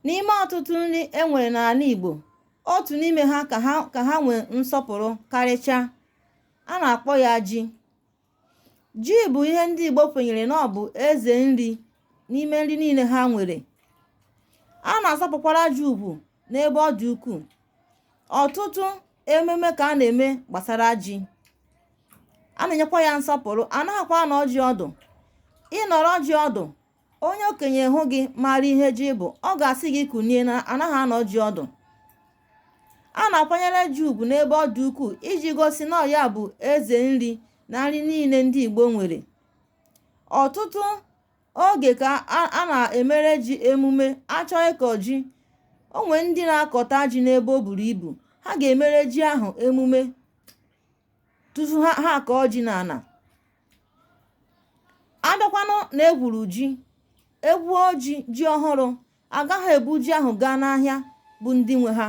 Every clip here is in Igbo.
n'ime ọtụtụ nri e nwere n'ala Igbo otu n'ime ha ka ha nwee nsọpụrụ karịchaa a na-akpọ ya ji ji bụ ihe ndị Igbo kwenyere na ọ bụ eze nri n'ime nri niile ha nwere a na-asọpụkwara ji ugwu n'ebe ọ dị ukwuu ọtụtụ ememe ka a na-eme gbasara ji a na-enyekwa ya nsọpụrụ a naghịkwa anọ ji ọdụ ịnọrọ ji ọdụ onye okenye hụ gị mara ihe ji bụ ọ ga-asị gị kunie na anaghị anọ ji ọdụ a na-akwanyere ji ugwu n'ebe ọ dị ukwuu iji gosi na ya bụ eze nri na nri niile ndị Igbo nwere ọtụtụ oge ka a na-emere ji emume a chọọ ịkọ ji o nwere ndị na-akọta ji n'ebe o buru ibu ha ga-emere ji ahụ emume tufu ha akọọ ji n'ala abịakwanụ na egwuru ji egwuo ji ji ọhụrụ agaghị ebu ji ahụ gaa n'ahịa bụ ndị nwe ha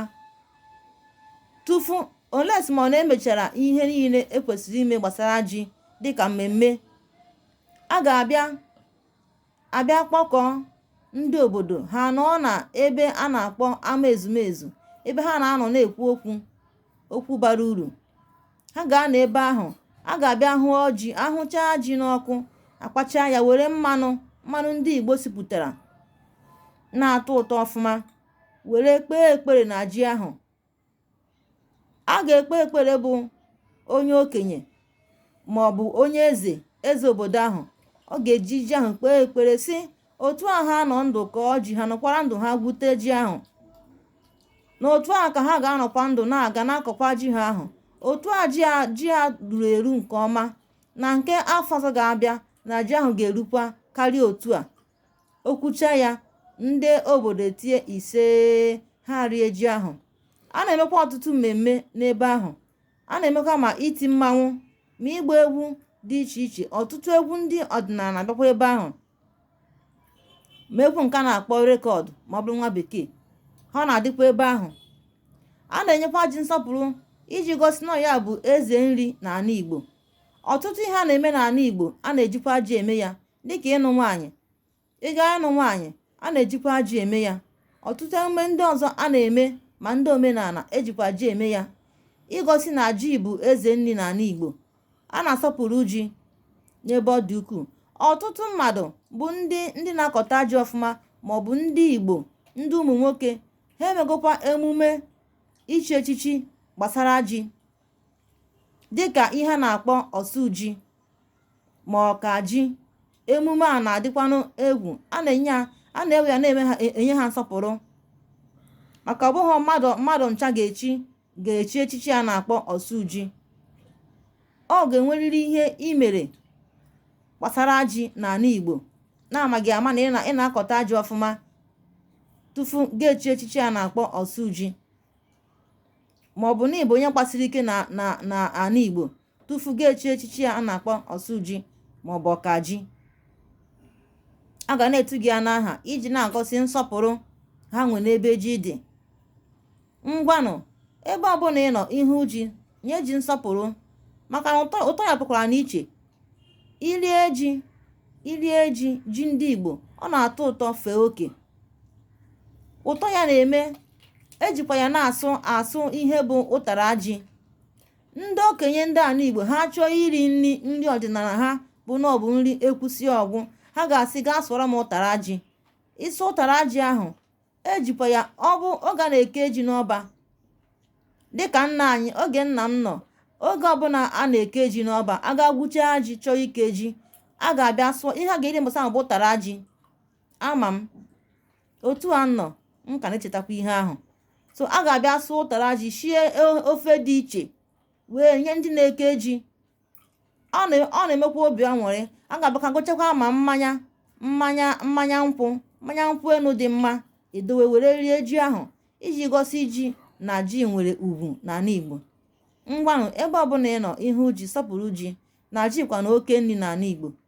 tufu unless ma ọ na-emechara ihe niile ekwesịrị ime gbasara ji dịka mmemme a ga-abịa abịa kpọkọọ ndị obodo ha anọọ na ebe a na-akpọ ama ezumezu ebe ha na-anọ na-ekwu okwu okwu bara uru ha ga-anọ ebe ahụ a ga-abịa hụọ ji ahụchaa ji n'ọkụ akpacha ya were mmanụ mmanụ ndị Igbo sipụtara na-atọ ụtọ ọfụma were kpee ekpere na ji ahụ a ga-ekpe ekpere bụ onye okenye ma ọ bụ onye eze eze obodo ahụ ọ ga-eji ji ahụ kpee ekpere sị otu a ha nọ ndụ kọọ ji ha nọkwara ndụ ha gwute ji ahụ na otu a ka ha ga-anọkwa ndụ na-aga na-akọkwa ji ha ahụ otu a ji a ruru eru nke ọma na nke afọ ọzọ ga-abịa na ji ahụ ga-erukwa karịa otu a o kwuchaa ya ndị obodo etie ise ha rie ji ahụ a na-emekwa ọtụtụ mmemme n'ebe ahụ a na-emekwa ma iti mmanwụ ma ịgba egwu dị iche iche ọtụtụ egwu ndị ọdịnala bịakwa ebe ahụ ma egwu nke a na-akpọ record ma ọ bụrụ nwa bekee ha na-adịkwa ebe ahụ a na-enyekwa ji nsọpụrụ iji gosi na ya bụ eze nri n'ala Igbo ọtụtụ ihe a na-eme n'ala Igbo a na-ejikwa ji eme ya dịka ịnụ nwaanyị ị gaa ịnụ nwaanyị a na-ejikwa ji eme ya ọtụtụ emume ndị ọzọ a na-eme ma ndị omenala ejikwa ji eme ya igosi na ji bụ eze nri n'ala Igbo a na-asọpụrụ ji n'ebe ọ dị ukwuu ọtụtụ mmadụ bụ ndị na-akọta ji ọfụma ma ọ bụ ndị Igbo ndị ụmụ nwoke ha emegokwa emume ichi echichi gbasara ji dịka ihe a na-akpọ osu ji ma ọkaji emume a na-adịkwanụ egwu a na-ewe ya na-enye ha nsọpụrụ maka ọ bụghị mmadụ ncha ga-echi ga-echi echichi a na-akpọ ọsụji ọ ga-enwerịrị ihe i mere gbasara ji n'ala Igbo na a ma gị ama na ị na-akọta ji ọfụma tufu ga-echi echichi a na-akpọ ọsụji ma ọ bụ na ị bụ onye gbasiri ike n'ala Igbo tufu ga-echi echichi a na-akpọ ọsụji ma ọ bụ ọkaji a ga na-etu gị ya n'aha iji na-agosi nsọpụrụ ha nwe n'ebe ji dị ngwanụ ebe ọbụla ị nọ ị hụ ji nye ji nsọpụrụ maka na ụtọ ya pụkwara n'iche i lie ji ji ndị Igbo ọ na-atọ ụtọ fee oke ụtọ ya na-eme e jikwa ya na-asụ asụ ihe bụ ụtara ji ndị okenye ndị ala igbo ha chọọ iri nri nri ọdịnala ha bụ na ọ bụ nri e kwusi ọ gwụ ha ga-asị gaa sụọrọ m ụtara ji ịsụ ụtara ji ahụ e jikwa ya oge a na-eke ji n'ọba dịka nna anyị oge nna m nọ oge ọbụla a na-eke ji n'ọba a gaa gwuchaa ji chọọ ike ji a ga-abịa sụọ ihe a ga-eri mbọsị ahụ bụ ụtara ji ama m otu a nọ m ka na-echetakwa ihe ahụ so a ga-abịa sụọ ụtara ji shie ofe dị iche wee nye ndị na-eke ji ọ na-emekwa obi aṅụrị a ga-abịakwa gochakwa ma mmanya nkwụ mmanya nkwụ enu dị mma e dowe were rie ji ahụ iji gosi ji na ji nwere ugwu n'ala Igbo ngwanụ ebe ọbụla ị nọ ị hụ ji sọpụrụ ji na ji kwanụ oke nri n'ala Igbo